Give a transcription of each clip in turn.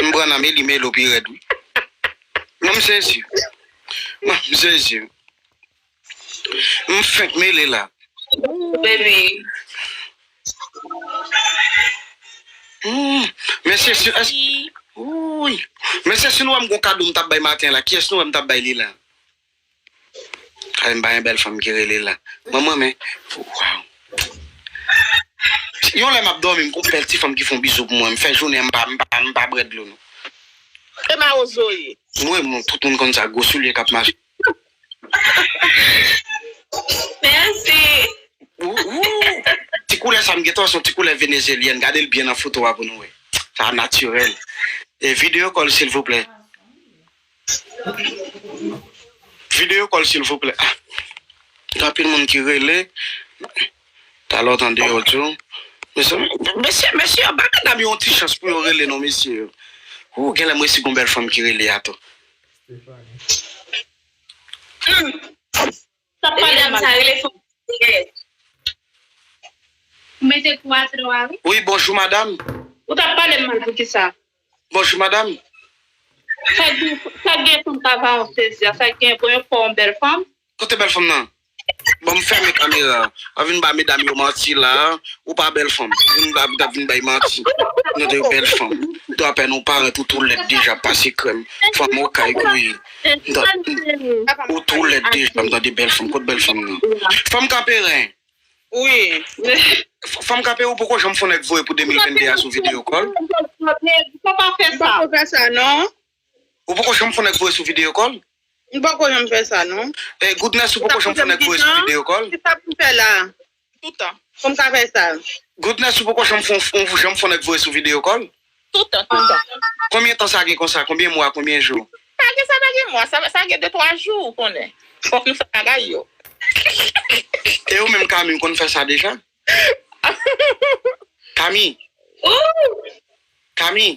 M pran nan meli melo pi rèd wi Mwen m sezi Mwen m sezi M fenk mele la ooh baby ooh Mesye si ooh Mesye si nou wèm gon kado m tap bay maten la kiyès nou wèm tap bay li la. Alèn pa gen bèl fanm ki rele la manman men waww yon lè map dòmi m konn bèl ti fanm ki fon bizou pou mwen m fè jounen m pa bwè dlo non. E mawozo ye. Mwen menm tout moun konn sa gwo soulye kap mache. Merci. Ti koulè sa m gentan wè son ti koulè venezyelyèn gade l byen nan foto a pou nou wè sa naturel. Video call silvouplè. Video call silvouplè gen anpil moun ki rele talè w tande yo di w mesye mesye yo bay medam yo yon ti chans pou yo rele non mesye yo ooh genlè m resi gon bèl fanm ki rele a tou. Sa pa gen mal. Ou mete kou a tro a wi. Wi bonjou madam. Ou tap palem mal poukisa. Bonjou madam. Sak gen fanm pa va an plezi a sak gen bon yo fè w bèl fanm. Kote bèl fanm nan? Bon m fèmen kamera a. Pa vin ba medam yo manti la a. Ou pa bèl fanm. Ou vin la pou ta vin bay manti. Nou 2 bèl fanm. Dwapè nou parèt ou tou lèd deja pase krèm. Fanm okay gouye. Ou two lèd deja m tande bèl fanm kot bèl fanm nan fanm kape ren wi fanm kape ou poko janm fon nèg voye pou 2022 a sou video kòl ou poko janm fon nèg voye sou video kòl goodness ou poko janm fon nèg voye sou video kòl. Toutan. Pou m ka fè sa. Goodness ou poko janm fon ou janm fon nèg voye sou video call? Toutan toutan. Konbyen tan sa gen konsa konbyen mwa konbyen jou? Pa gen sa pa gen mwa sa sa gen de twa jou ou konnen fòk nou fè bagay yo. E ou menm Kami ou konn fè sa deja? Kami! Ooh! Kami!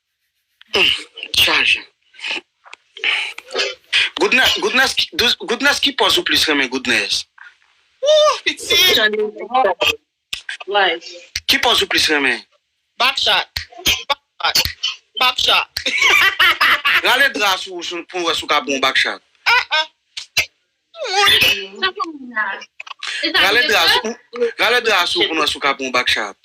Goodness ki pòz ou plis renmen Goodness? Ki pòz ou plis renmen? Rale dra sou ou pou m wè si w ka bon backshot. Rale dras ou Rale dras ou pou nou sou kapon bak chat.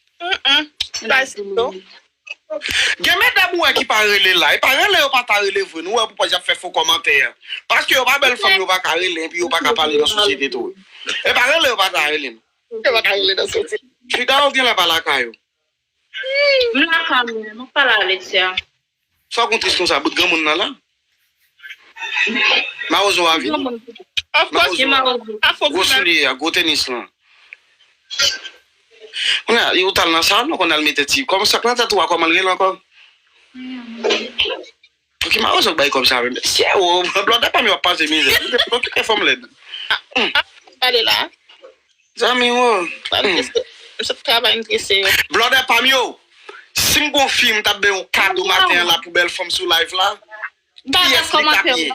Gen medam ou wè ki pa rele la e pa rele yo pa ta rele vre nou wè pou kòz yap fè fo kòmantè an paske yo pa bèl fanm yo pa ka rele enpi yo pa ka pale nan sosyete tou e pa rele yo pa ta rele m Frida ou genlè pa lakay ou. M la carmel map pale a Alexia. Sa kon tris konsa bout granmoun nan la marozo a vini marozo a gwo soulye a gwo tenis lan kounya li ou tal nan salon konn al mete ti kòman sak nan tèt ou a kòmanl rele ankò. Pouki marozo k bay kob sa menm. Mesye oo blòdè pam yo ap pase mizè wi depi nou kite fanm lèd. Apa ou pale la. Zanmi w oo. Sa m trese m sot travay m trese yo. Blòdè pam yo sim gon fi m tap bay yon kado maten an la pou bèl fanm sou live la kiyès li tap ye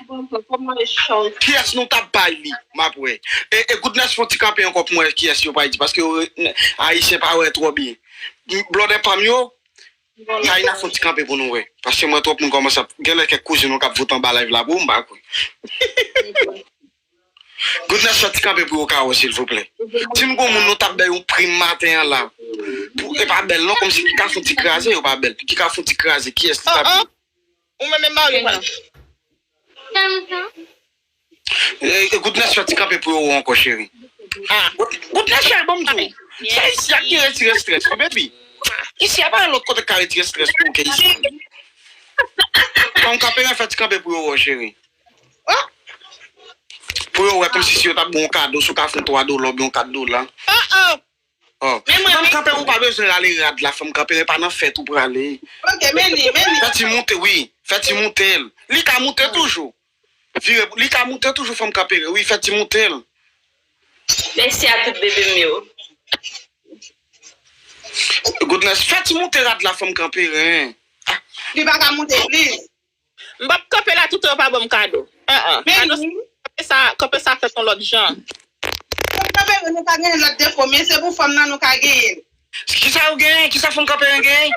kiyès nou tap bay li map wè e goodness fon ti kanpe ankò pou m wè kiyès yo pay di paske ayisyen pa wè twò byen blòdè pam yo Taïna fon ti kanpe pou nou wè paske m wè twòp moun kòmanse ap genlè kèk kouzin nou kap vote anba live la pou ou m pa kwè Goodness fè ti kanpe pou yo ka wè silvouplè di m gon moun nou tap bay yon prim maten an la pou e pa bèl non kòmsi ki ka fon ti kraze yo pa bèl ki ka fon ti kraze kiyès li tap ye ou menm e maril wap. Goodness fè ti kanpe pou yo ou ankò cheri. Goodness chay banm di w, se isi a ki retire strès wi baby. Isi a pa gen lòt kote ki ka retire strès pou ou ke isi. Tanw kanpe ren fè ti kanpe pou yo ou ankò cheri. Pou yo wè kòmsi si yo tap ba w yon kado si w ka fè yon 3 dola oubyen yon 4 dola. Fanm kanpe ou pa bezwen rale rad la fanm kanpe e pa nan fèt ou prale fè ti moute wi fè ti moute l li ka moute toujou vire pou li ka moute toujou fanm kanpe wi fè ti moute l. Mèsi a tout bebe m yo. Goodness fè ti moute rad la fanm kanpe ren. Li paka moute plis. M pap kanpe la toutan yo pa banm kado. An an. Kado sa kanpe sa kanpe sa fèt yon lòt jan. Fanm kanperen nou ka genyen lòt defo men se pou fanm nan nou ka genyenl. Kisa ou genyen kisa fanm kanperen genyen.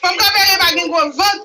Fanm kanperen pa gen gwo vant.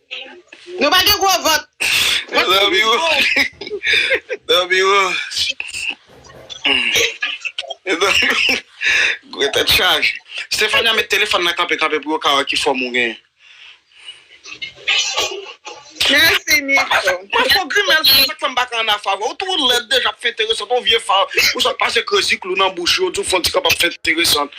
Nou pa gen gwo vant. Yo zanmi ou. Zanmi ou. Yo zanmi ou. Gwo tèt chaje. Stephania met telefòn nan kanpe kanpe pou yo ka wè ki fòm ou genyen. Mèsi Nico. Mwen fè w grimèl sa se sak fèm pa ka anafè avèw ou two lèd deja pou fè enteresant on vye far ou sot pase krezi klou nan bouch ou yo diw fon ti kanpe ap fè enteresant.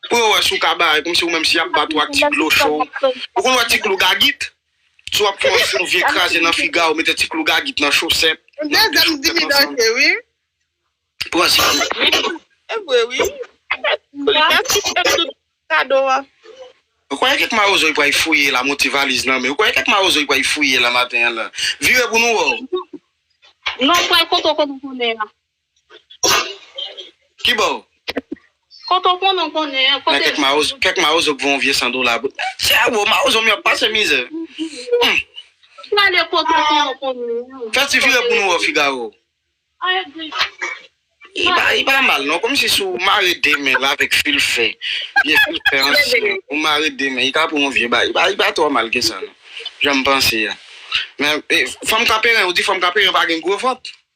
Pou yo wè si w ka bay kòmsi ou menm si y ap bat ou ak ti dlo cho. Ou konn wè ti klou gagit? Si w ap fè yon sou vye kraze nan figa w, mete ti klou gagit nan chosèt, nan de chosèt ansanm. Pran ti klou. Se vre wi. Mèsi pou tout kado a. Ou kwè kèk mawozo y pray fouye la monte valiz nan men ou kwè kèk mawozo y pray fouye la maten an la. Vire pou nou wè w. Non pral kote w konn konnen an. Ki bò? Kote w konnen w konnen an. Nan kèk mawozo, kèk mawozo k vann w vye san dola bout nèt. Chè bro, mawozo m yo ap pase mizè. Humm. Prale kote w konnen w konnen an. Fè ti vire pou nou wè w Figaro. I agree. Li pa mal non. Kòmsi si w mare 2 men l avèk fil fè, vye fil fè ansyen an, ou mare 2 men, li ka pou yon vye bagay. Li pa twò mal ke sa non. Jan m panse a. Men, fanm Kaperen, ou di fanm Kaperen pa gen gwo vant?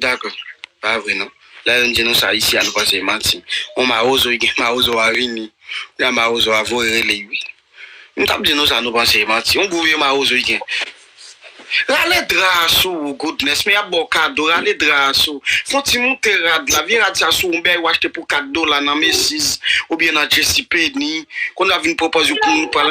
Dakò. Pa vre non. Lè youn di nou sa isi a nou panse e manti. On mawozo ki gen mawozo a vini. Kounya mawozo a voye rele ui. Nou tap di nou sa nou panse e manti. On gwo vye mawozo ki gen. Rale dra a sou ou Goodness men yap baw kado rale dra a sou fon ti moute rad la vye rad sa sou ou bèy ou achte pou 4 dola nan Macy's oubyen nan JCPenney konn wap vin pwopòz yon koun nou pral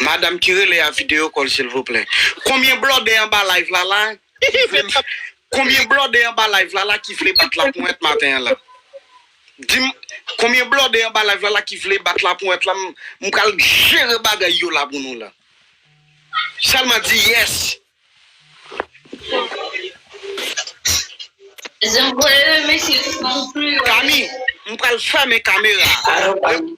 Madam ki rele a video kòl silvouplè. Konbyen blòdè anba live la la ki vle Konbyen blòdè anba live la la ki vle bat la ponwèt maten an la Dim Konbyen blòdè anba live la la ki vle bat la ponwèt la m pral jere bagay yo la pou nou la Sèlman di yes. Kami m pral fèmen kamera a.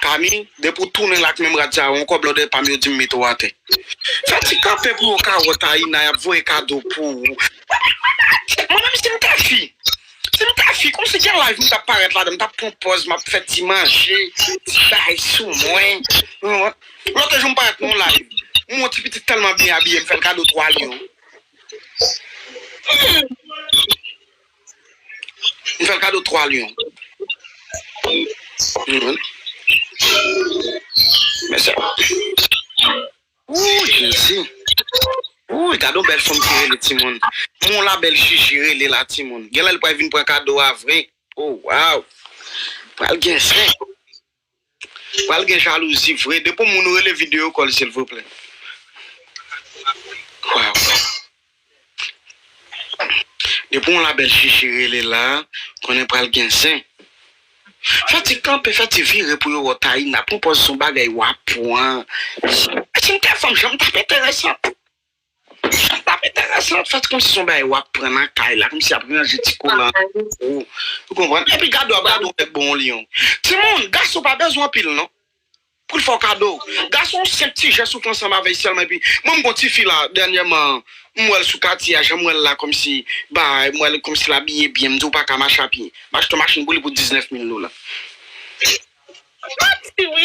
Pami, depi ou tounen la ak menm rad sa yo ankò blòdè pam yo dim mete w atè. Fè ti kanpe pou yo ka wè Taïna yap voye kado pou ou. Mwen menm sim ta fi, sim ta fi kòmsi gen live m tap parèt ladan m tap pran pòz map fè ti manje, ti bay sou mwen. Lòt jou m parèt nan yon live, m wè yon ti pitit tèlman byen abiye m fè l kado 3 lyon. M fè l kado 3 lyon. Ooh jezi Ooh gade yon bèl fanm ki rele timoun M won la bèl jiji rele la timoun Genlè li pral vin pran kado a vre Oh waww Pral gen zen. Pral gen jalouzi vre. Depi yon moun rele video call silvouplè. Depi yon la belle chichi rele la konnen pral gen zen. Fè ti kanpe fè ti vire pou yo wè w Taïna pran pòz son bagay wap pran. Cynthia fanm janm tap enteresant. Sa tap enteresan ou fèt konmsi son bagay wap pran nan kay la konmsi yap ranje ti kolan pou ou konprann epi gade wap gade yon nèg bon yon lion timoun gason pa bezwen anpil non poul fè w kado gason yon senp ti jès ou fè ansanm avèl sèlman epi mwen m gon tifi la dènyèman m wèl sou katye a janm wèl la konmsi bay m wèl konmsi l abiye byen m di ou paka mache a pye m achte yon machin pou li pou 19 mil dola m pati wi.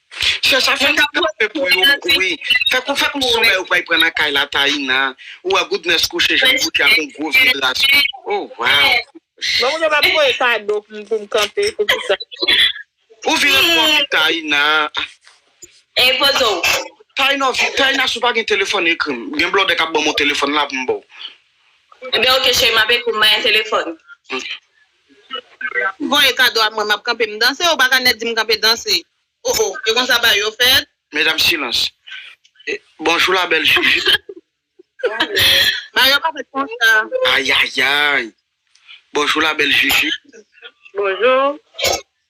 Chèch a fè tout sa fè pou yo wi fè kou fè kou somèy ou pay pran nan kay la Taïna ou wè Goodness kouche janl kouche ak yon gwo vye dra sou li oh waww. Mwen mwen pa voye kado pou m pou m kanpe pou kisa. Ou vire twò vit Taïna ah. Ey poze w. Taïna vit Taïna si w pa gen telefòn ekri m gen blòdè kap banm yon telefòn la pou m baw. Ebyen ok cheri map ekri w m bay yon telefòn. Voye kado a mwen map kanpe m danse ou paka nèt di m kanpe danse oh oh e konsa bagay yo fèt. Medam silans e bonjou la bèl jujit. Bagay yo pa fèt konsa. Ayayayy bonjou la bèl jujit. Bonjou.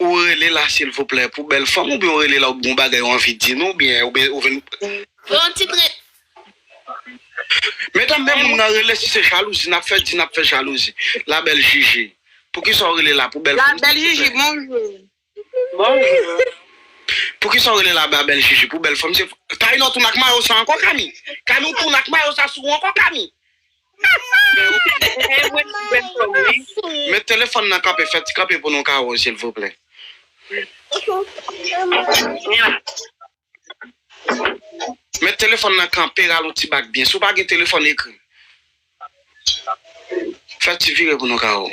Ou rele la silvouplè pou bèl fanm oubyen ou rele la ou gen yon bagay ou anvi di nou oubyen ou vin Pou yon ti tret. Medam men moun nan rele si se jalouzi nap fè di nap fè jalouzi la bèl jiji poukisa ou rele la pou bèl fanm silvouplè poukisa ou rele la la bèl jiji pou bèl fanm silvouplè Taïna ou tounen ak mayo sa ankò Kami Kami ou tounen ak mayo sa sou ou ankò Kami. Met telefon nan kanpe fe ti kanpe pou nou ka wèw silvouplè. Met telefon nan kanpe ralonti bak byen si w pa gen telefon ekri fe ti vire pou nou ka wèw.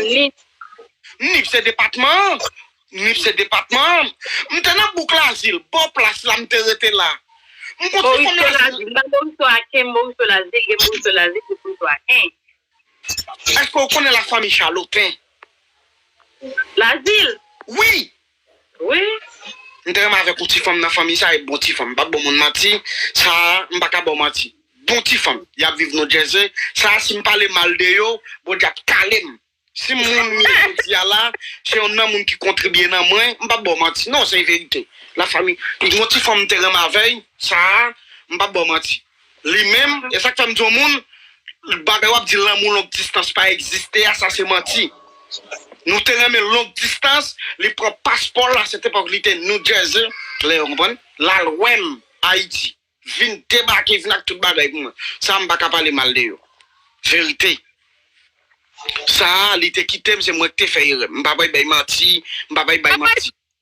Nip. Nip se depatman an? Nip se depatman an? M te nan bouk Lazil, bò plas la m te rete la. M konn ti fòm Lazil. M pa Moriso Aken, Moriso Lazil, gen Moriso Lazil, gen Moriso Aken. Èske ou konnen lafanmi Chaloten? Lazil? Wi! wi. M te renmen avèk ou ti fanm nan fanmi sa e bon ti fanm m pap baw moun manti sa m paka baw manti bon ti fanm yap viv nou jersey sa sim pale mal de yo bondye ap kalem sim moun m ye jodia la se yon nan moun ki kontribye nan mwen m pap baw manti non se verite la fanmi bon ti fanm m te renmen avèy sa m pap baw manti. Li menm, e sa k fè m di yon moun, bagay w ap di lanmou long distans pa egziste a, sa se manti. Nou te renmen long distans, li pran paspò l la, se te epòk li te New Jersey, lè yo konprann, l al wè m Ayiti, vin debake, vin ak tout bagay pou mwen. Sa m pa ka pale mal de yo. Verite. Sa a, li te kite m, se mwen ki te fè erè. M pa bay bay manti, m pa bay bay manti.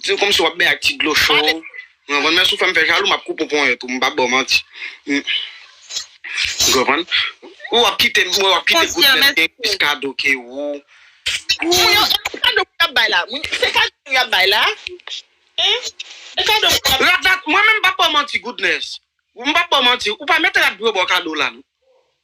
Diw komsi wap beny ak ti dlo cho ou konprann men si w fèm fè jalou map koupe w ponyèt ou m pap baw manti ou konprann ou ap kite m wè wap kite gout lèm gen plis kado ke ou moun yo e kado moun ap bay la se kado moun ap bay la e kado moun ap bay la mwen menm m pap baw manti goodness m pap baw manti ou pa mèt rad pou yo baw kado la non.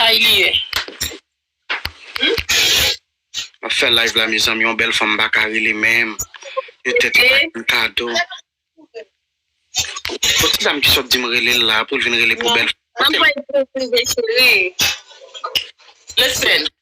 Kay li ye humm. Map fè live la mezanmi yon bèl fanm paka rele menm yo tèt yo pa jwenn kado bon ti dam ki sot dim relel la poul vin rele pou bèl fanm. Map voye pou ou prive cheri. Listen.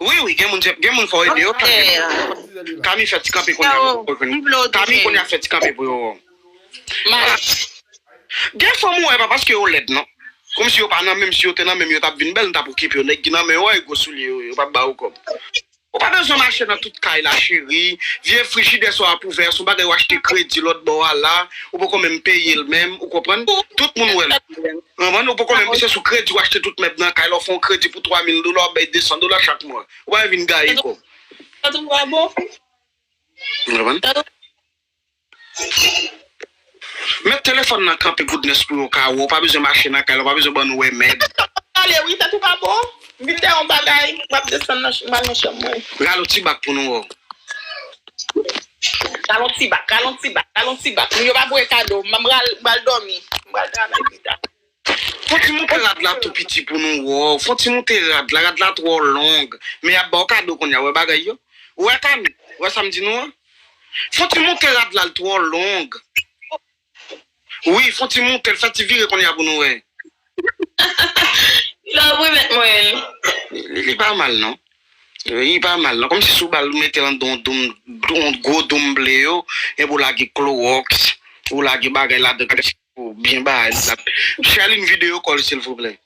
Wi wi gen moun se gen moun fò ede yo kami fè kami fè ti kanpe kounya pou yo vin kami kounya fè ti kanpe pou yo mache gen fanm ou wè pa paske yo lèd non kòmsi yo pa nan menm si yo te nan menm yo tap vin bèl nou tap okipe yo nèg ki nan menw wè gwo soulye yo yo pap ba ou kòb ou pa bezwen mache nan tout kay la cheri vye frijidè sa w ap ouvè a son bagay w achte kredi lòt bò a la ou poko menm peyel menm ou konprann tout moun wèl. Manman ou poko menm se sou kredi ou achte tout mèb nan kay la ou fè yon kredi pou 3000 dola ou bay 200 dola chak mwa ou pa vle vin gaye kob. Sa tou pa bon. Ou konprann? Sa tou. Met telefòn nan kanpe goodness pou yo ka wè ou pa bezwen mache nan kay la ou pa bezwen bannou wè mèb. Sa tou pa pale wi sa tou pa bon m vin de yon bagay map desann nan m al nan chanm mwen. Rale yon ti bak pou nou wè w. Ralon ti bak, ralon ti bak, ralon ti bak. Moun yo pa voye kado. M pral dòmi. M pral travay pita. Fon ti moute rad la tou piti pou nou wè w. Fon ti moute rad la. Rad la twò long. Men y ap ba w kado kounya. Wè bagay yo. Ou wè Kami? Ou wè sa m di nou an? Fon ti moute rad la l twò long. Wi fon ti mouke l fè ti vire konnya pou nou wè. Love wi met mwen li. Li pa mal non. Li pa mal non komsi sou bal ou metel andan yon doum yon gwo doum ble yo epi ou lage kloroks ou lage bagay ladan pou byen bay li la. Cherline vide yo kòl silvouplè.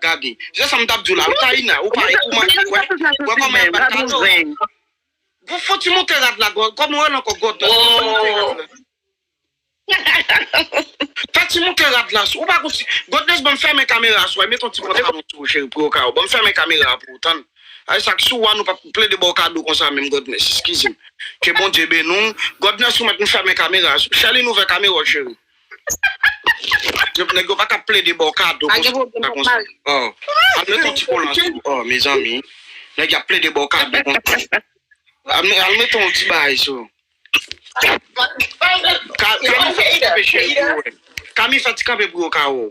Gade. Se sam tap diw la wi Taïna ou pa ou manke kwè wè kòman yap bat kato Gon foti moute rad la gò kòman yo rele ankò gò dòt gon foti moute rad la Fè ti moute rad la ou pa gon ti Godness banm fèmen kamera sou a met yon ti pantalon sou ou cheri pou yo ka wè banm fèmen kamera pou ou tann Ay sak sou wa nou pap plede baw kado konsa menm Godness eskizem Ke Bondye beni w Godness ou mèt m fèmen kamera sou Sherline ouvè kamera w cheri. Nèg yo pa ka plede baw kado konsa konsa Al met yon ti kola sou ou oh mezanmi Nèg yo ap plede baw kado konsa Al met yon ti bagay sou Kami fè ti kanpe pou yo wè Kami fè ti kanpe pou yo ka wè w.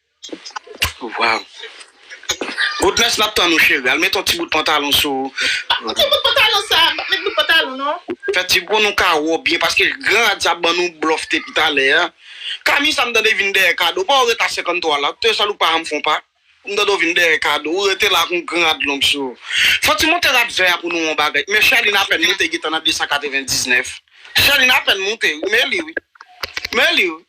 Waw. Goodness nap tann ou cheri. Al met yon ti bout pantalon sou ou. Pap mete bout pantalon sa. Pap met bout pantalon non. Fè ti pou nou ka wè w byen paske gran rad sa ap ban nou blof depi talè a. Kami sa m tande vin dèyè Kado. Paw ret a 53 la. Te sèl ou pa janm fon pa. M tande w vin dèyè Kado. Ou rete la ak yon gran rad long sou ou. Fati monte rad vè a pou nou wè yon bagay. Men Sherline apèn moute gentan nan 299. Sherline apèn moute wi. Men li wi. Men li wi.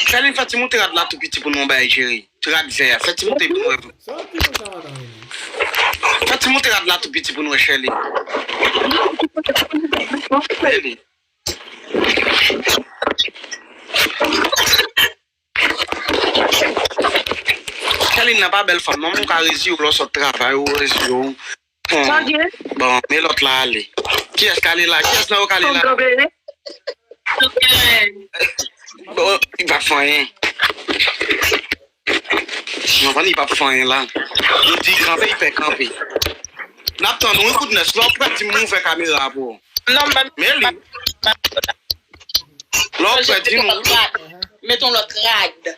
Sherline fè ti moute rad la tou piti pou nou bay Jerry. Ti rad vè a. Fè ti moute pou nou wè. Sa wap fè konsa madan Rene. Fè ti moute rad la tou piti pou nou wè Sherline. Sherline nan pa bèl fanm non men ou ka reziyew lè w sot travay ou reziyew. Bon men lòt la ale. Kiyès k ale la? Kiyès nan yo k ale la? Bon, li pa fè anyen. Mwen konn li pa fè anyen la. Yo di kanpe, li fè kanpe. N ap tann ou wi kout nèg. Lè w prè di m ouvè kamera a pou ou. Men li. Lè w prè di m. Met yon lòt rad.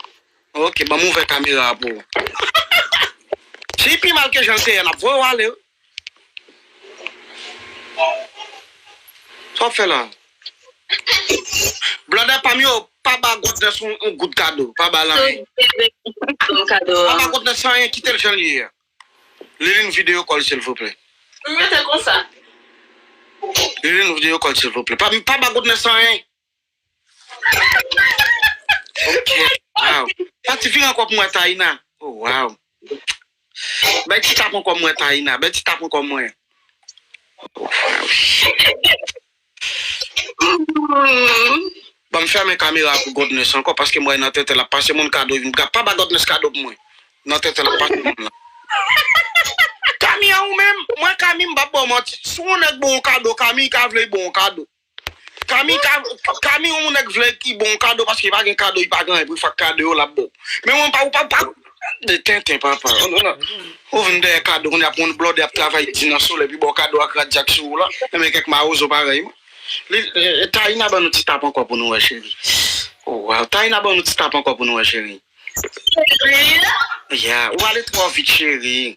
Ok banm ouvè kamera a pou ou. Fi pi mal ke janl te yè lap voye w ale wi. Sa wap fè la. Blòdè pam yo pa ba Godness yon goud kado pa bal anyen. Pa ba Godness anyen kitel janl ye a. Liline vide yo kòl silvouplè. Rete konsa. Liline vide yo kòl silvouplè. Pa ba Godness anyen. Pati vire ankò pou mwen Taïna. Oh wow. Bay ti tap ankò mwen Taïna. Bay ti tap ankò mwen. Banm fèmen kamera pou Godness ankò paske m wè nan tenten lap pase moun kado vin pran. Pa ba Godness kado pou mwen. Nan tenten lap pase moun la. Kami an ou menm? Mwen Kami m pap baw manti. Si yon nèg baw yon kado Kami ka vle li baw yon kado. Kami kami yon moun nèg vle ki bon kado paske pa gen kado li pa gen anyen pou fè ak kado yo lap baw men ou menm pa ou pa pa de tenten papa ou vin dèyè kado kounya pou yon blòdè ap travay di nan solèy pou baw kado ak rad jak sou ou la men kèk mawozo parèy ou li Taïna ban nou ti tap ankò pou nou wè cheri o waw Taïna ban nou ti tap ankò pou nou wè cheri cheri ya ou ale twò vit cheri.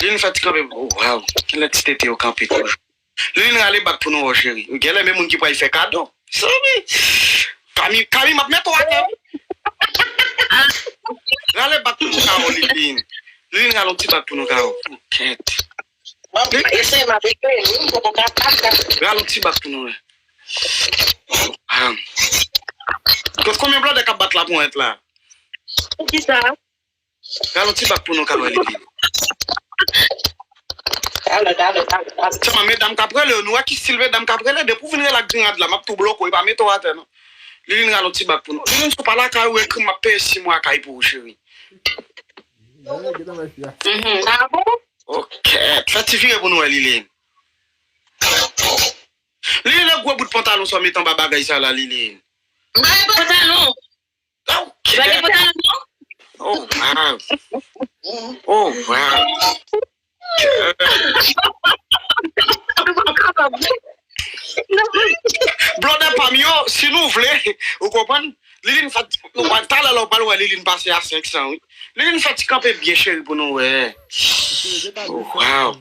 Liline fè ti kanpe pou ou waw kilè ti tete yo kanpe toujou Liline rale bak pou nou wè w cheri ou gèlè men moun ki pral fè kado sobi Kami Kami map met ou atè wi rale bak pou nou Caro Liline Liline rale yon ti bak pou nou Caro ou kèt rale yon ti bak pou nou Kote konbyen blòdè kap bat laponèt la. Ralonti bak pou nou ka wè li pi byen. Sèlman medam kap rele yo nou wè ki stil medam kap rele depi ou vin rele ak grenn rad la map tou bloke w epa mete w atè non Liline ralonti bak pou nou Liline si w pa lakay ou ekri m map peye 6 mwa kay pou ou cheri Ok fè ti vire pou nou wè Liline Liline e gwo bout pantalon sa w met anba bagay sa la Liline. Bagay pa tap bon. Oh wow Oh wow Blòdè pam yo si nou vle ou konprann Liline fè talè la ou pral wè Liline pase a 500 wi Liline fè ti kanpe byen cheri pou nou wè Oh wow.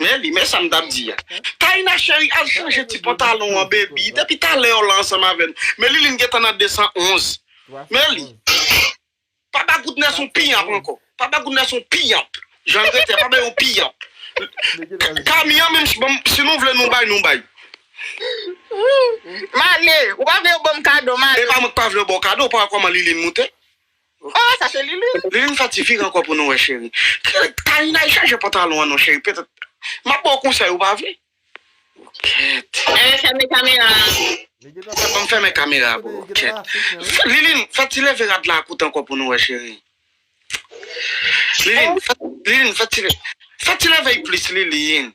Nelly, men sam tap di a. Taïna cheri al chanje ti pantalon an baby, depi talè ou la ansanm avèm, men Liline gentan nan 211. Nelly, pa ba Goodness yon piyanp ankò, pa ba Goodness yon piyanp, janl rete a pa bay yon piyanp. Camie an menm banm si nou vle nou bay nou bay. Mane, ou pa vle yo banm kado Mane. Epa mwen k pa vlew baw kado ou pa wè kòman Liline moute. Ohh sa se liline. Liline sa ti fig ankò pou nou wè cheri. Taïnaï chanje pantalon an non cheri petèt map baw konsèy ou pa vle. Kèt. Amen fèmen kamera a. Li gentan fè Banm fèmen kamera a boo. Kèt. Liline fè ti leve rad la a kout ankò pou nou wè cheri. Liline fè ti leve fè ti leve l plis liline.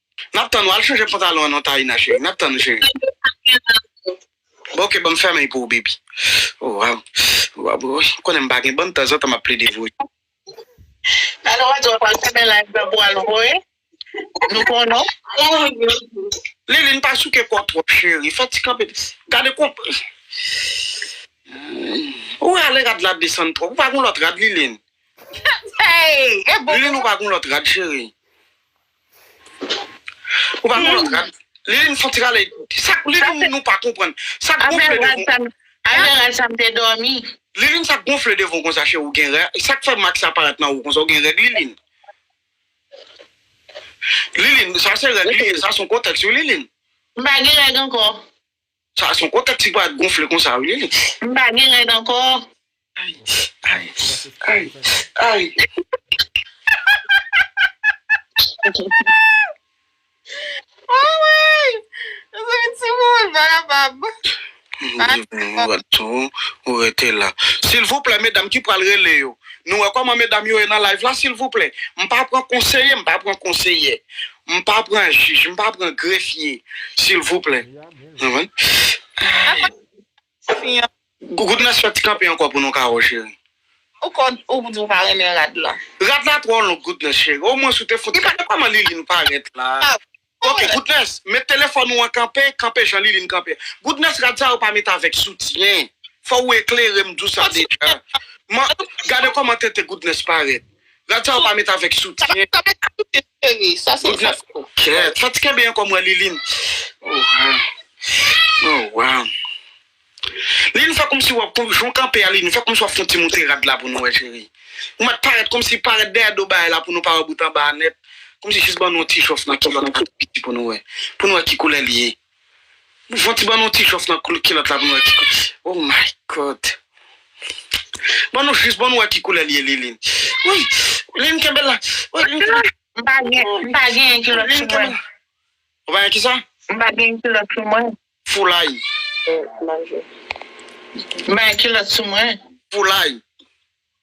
Map tann ou al chanje pantalon an non Taïna chérie map tann ou chérie. Bon ok banm fèmen l pou ou baby. Oh waw waw boo ou konnen m pa gen bann tanzantan map plede voye. Ala wadjò pral fèmen live la pou al voye nou pou nou. Liline pa souke kòw twòp chérie fè ti kanpe gade kon ou rale rad la ap desann twòp ou pa gon lòt rad Liline Liline ou pa gon lòt rad chérie. Ou pa konn lòt rad. Liline fon ti rale. Sa li fè moun nou pa konprann. Sa gonfle devan w. Avè rad sa m te dòmi. Liline sa gonfle devan w konsa cheri ou gen rè. Sa k fè mak sa parèt nan ou konsa ou gen règ Liline. Liline sa se règ li ye sa son kotèks wi Liline. M pa gen règ ankò. Sa a son gwo tèt ti bwa gonfle konsa wi lele. M pa gen rèd ankò. Anmweyy mezanmi timoun m pa kapab. Ou rete la. Silvouplè medam ki pral rele yo nou wè kòman medam yo ye nan live la silvouplè m pa pran konseye m pa pran konseyè M pa pran jij m pa pran grefye silvouplè nan wi. Goodness fè ti kanpe ankò pou nou Caro cheri. Ou konn ou di ou pa renmen rad lan. Rad la twò long Goodness cheri o mwens ou te fout gade kòman Liline parèt la ok Goodness met telefòn ou an kanpe kanpe jan Liline kanpe a Goodness rad sa yo pa met avèk soutyen fò ou eklere m dou sa deja man gade kòman tete Goodness parèt rad sa yo pa met avèk soutyen. Cheri sa se tante kou. Kèèt tante kenbe ankò m wè Liline oh waw oh waw Liline fè kòmsi wap kou jan w kanpe a Liline fè kòmsi wap fon ti moute rad la pou nou wè cheri ou mèt parèt kòmsi parèt dèyè do bagay la pou nou pa wè bout anba a nèt kòmsi jis ban nou yon ti jòf nan kilòt la tou piti pou nou wè pou nou wè ki koulè li ye Fon ti ban nou ti jòf nan koul kilòt la pou nou wè ki koul se oh my God ban nou jis ban nou wè ki koulè li ye Liline wouyy Liline kenbe la wouyy M pa gen m pa gen yon kilòt sou mwen. Ou pa gen kisa? M pa gen yon kilòt sou mwen. Foulay. M pa gen kilòt sou mwen. Foulay.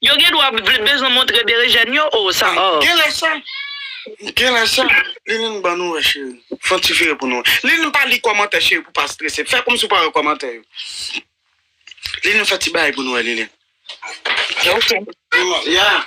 Yo gen dwa vle bezwen montre berejèn yo oo sa oo. Genlè sa Genlè sa Liline ban nou wè cheri Fè yon ti vire pou nou wè Liline pa li kòmantè cheri pou pa strese Fè kòmsi ou pa wè kòmantè yo Liline fè ti bagay pou nou wè Liline Ok Yaa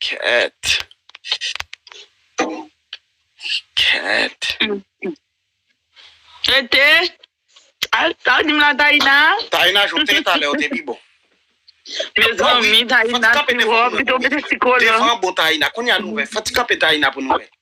Cat. Cat. Tete. Al, al dim la Taïna. Taïna joute talè ou te pi bon. Me zanmi Taïna ti wò, pito mete ti kolon. Devan bon Taïna, kounya nou wè. Fati kanpe Taïna pou nou wè.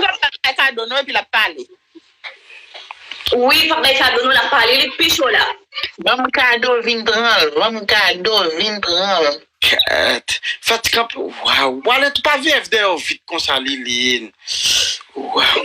Li pap bay kado non epi lap pale. Wi li pap bay kado non lap pale li pi cho la. Banm kado vin pranl. Banm kado vin pranl. Ket fatik anpl waw. Wale tou pa vf deyò vit konsa liline waw.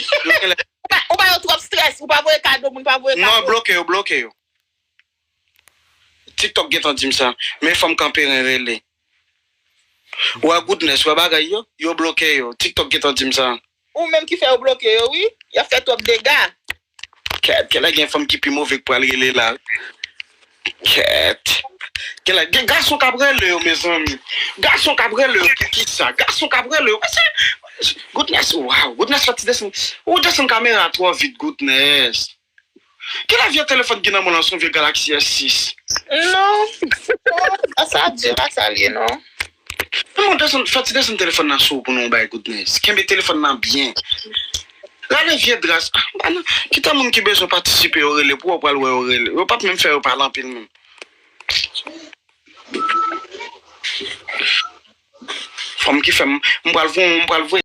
Yo genlè. Ou ba yo trop stress ou pa voye kado moun pa voye kado. Non bloke yo bloke yo. Tiktok gentan dim sa men fanm kanperen rele wè goodness wè bagay yo yo bloke yo tiktok gentan dim sa. Ou menm ki fè yo bloke yo wi yap fè trop dega. Kèt gen fanm ki pi move k pral rele la kèt kèt gen gason kap rele yo mezanmi gason kap rele yo poukisa gason kap rele yo mesye goodness waww goodness fè ti desann ou desann kamera a twò vit goodness kilè vye telefòn ki nan menw lan son vye galaxy s 6 non sa ap diw la sa lye non. Fè ti desann telefòn nan sou ou pou nou bay goodness. Kenbe telefòn nan byen. Rale vye dras. Kite moun ki bezwen patisipe yo rele pou ou pral wè yo rele. Yo pap menm fè yo pale anpil menm. Fanm ki fèm m pral voye.